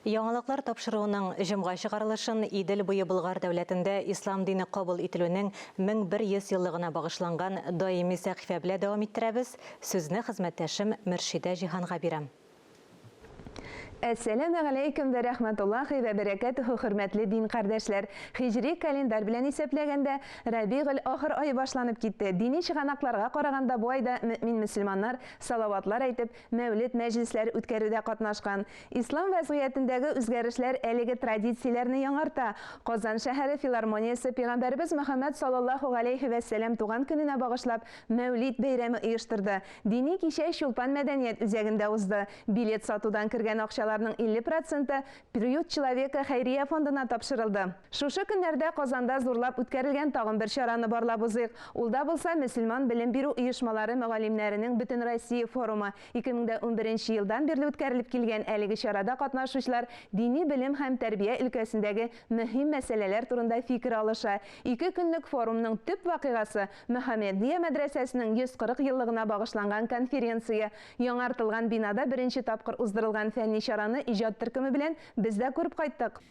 Яңалыклар тапшыруының җомга чыгарылышын Идел буе Болгар дәүләтендә ислам дине кабул ителүнең 1100 еллыгына багышланган даими сәхифә белә дәвам иттерәбез, сүзне хезмәттәшем Мөршидә Җиһанга бирәм. Әссәләмү галәйкүм вә рәхмәтуллаһи вә бәрәкәтүһү Хөрмәтле дин кардәшләр! Һиҗри календарь белән исәпләгәндә, Рәбигель ахыр ае башланып китте. Дини чыганакларга караганда бу айда мөэмин-мөселманнар салаватлар әйтеп, Мәүлет мәҗлесләр үткәрүдә катнашкан. Ислам вәзгыятендәге үзгәрешләр әлеге традицияләрне яңарта. Казан шәһәре филармониясе Пигамбәребез Мөхәммәд саллаллаһу галәйһи вә сәлам туган көненә багышлап Мәүлид бәйрәме оештырды. Дини кичә Чулпан мәдәният үзәгендә узды. Билет сатудан кергән акчаларның 50 проценты Приют человека хәйрия фондына тапшырылды. Шушы көннәрдә Казанда зурлап үткәрелгән тагын бер чараны барлап узыйк. Ул да булса, мөселман белем бирү оешмалары мөгаллимнәренең Бөтенроссия форумы. 2011 елдан бирле үткәрелеп килгән әлеге чарада катнашучылар дини белем һәм тәрбия өлкәсендәге мөһим мәсьәләләр турында фикер алыша. Ике көнлек форумның төп вакыйгасы, Мөхәммәдия мәдрәсәсенең 140 еллыгына багышланган конференция. Яңартылган бинада беренче тапкыр уздырылган фәнни чараны иҗат төркеме белән без дә күреп кайттык.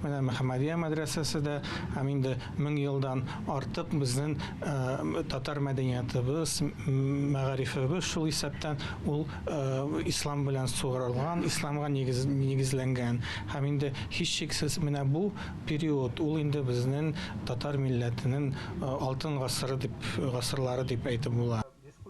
Менә Мөхәммәдия мәдрәсәсе дә һәм инде мең елдан артык безнең э, татар мәдәниятыбыз, мәгарифебез шул исәптән ул э, ислам белән сугарылган, исламга нигез, нигезләнгән. Һәм инде һичшиксез менә бу период ул инде безнең татар милләтенең э, алтын гасыры дип гасырлары дип әйтеп була.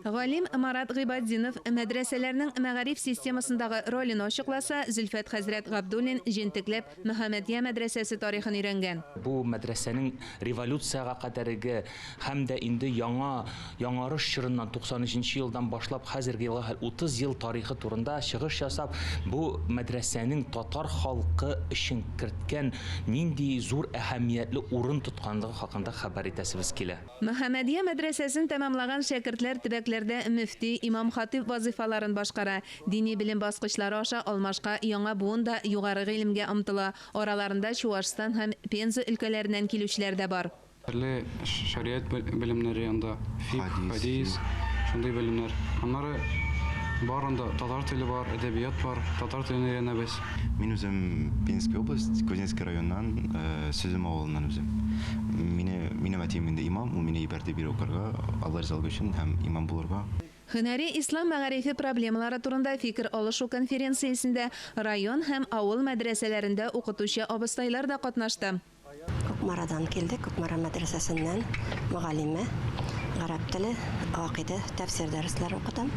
Галим Марат Гыйбатдинов мәдрәсәләрнең мәгариф системасындагы ролен ачыкласа, Зөлфәт хәзрәт Габдуллин җентекләп Мөхәммәдия мәдрәсәсе тарихын өйрәнгән. Бу мәдрәсәнең революциягә кадәреге һәм дә инде яңа Яңарыш чорыннан, 93 нче елдан башлап хәзерге елга хәл 30 ел тарихы турында чыгыш ясап, бу мәдрәсәнең татар халкы өчен керткән нинди зур әһәмиятле урын тотканлыгы хакында хәбәр итәсебез килә. Мөхәммәдия мәдрәсәсен тәмамлаган шәкертләр төбәкләрдә мөфти, имам-хатыйб вазыйфаларын башкара. Дини белем баскычлары аша алмашка яңа буын да югары гыйлемгә омтыла, араларында Чуашстан һәм Пенза өлкәләреннән килүчеләр дә бар. Төрле шәригать белемнәре анда, фикъ, хәдис, шундый белемнәр. Аннары бар анда, татар теле бар, әдәбият бар, татар телен өйрәнәбез. Мин үзем Пензенская область, Кузнецкий районнан, э, Сөзем авылыннан үзем. Мине, минем әтием инде имам, ул мине ибәрде бирә укырга, Алла ризалыгы өчен һәм имам булырга. Һөнәри ислам мәгарифе проблемалары турында фикер алышу конференциясендә район һәм авыл мәдрәсәләрендә укытучы абыстайлар да катнашты. Кукмарадан килдек, Кукмара мәдрәсәсеннән мөгаллимә, гарәп теле, гакыйдә, тәфсир дәресләре укытам.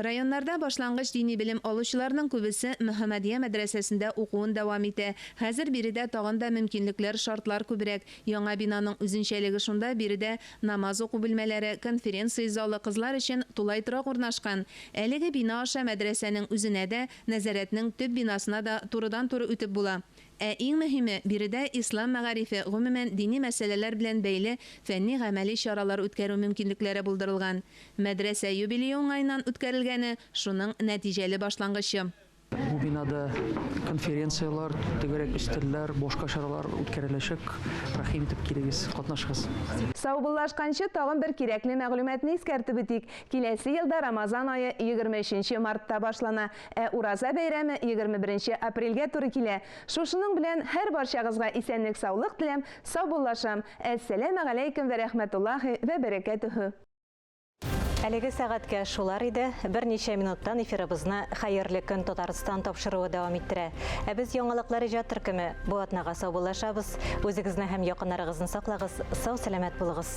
Районнарда башлангыч дини белем алучыларның күбесе Мөхәммәдия мәдрәсәсендә укуын дәвам итә. Хәзер биредә тагын да мөмкинлекләр, шартлар күбрәк. Яңа бинаның үзенчәлеге шунда, биредә намаз уку бүлмәләре, конференция залы, кызлар өчен тулай торак урнашкан. Әлеге бина аша мәдрәсәнең үзенә дә, нәзарәтнең төп бинасына да турыдан-туры үтеп була. Ә иң мөһиме, биредә ислам мәгарифе, гомумән, дини мәсьәләләр белән бәйле фәнни-гамәли чаралар үткәрү мөмкинлекләре булдырылган. Мәдрәсә юбилее уңаеннан үткәрелгәне, шуның нәтиҗәле башлангычы. Бу бинада конференцияләр, түгәрәк өстәлләр, башка чаралар үткәреләчәк. Рәхим итеп килегез, катнашыгыз. Саубуллашканчы, тагын бер кирәкле мәгълүматны искәртеп үтик, киләсе елда Рамазан ае егерме өченче мартта башлана. Ә Ураза бәйрәме егерме беренче апрельгә туры килә. Шушының белән һәрбарчагызга исәнлек-саулык теләм, саубуллашам, Әссәләмә галәйкем вә рәхмәтуллаһи вә бәрәкәтүһү! Әлеге сәгатькә шулар иде. Берничә минуттан эфирыбызны Хәерле көн, Татарстан тапшыруы дәвам иттерә. Ә без Яңалыклар иҗат төркеме бу атнага саубуллашабыз. Үзегезне һәм якыннарыгызны саклагыз, сау-сәламәт булыгыз!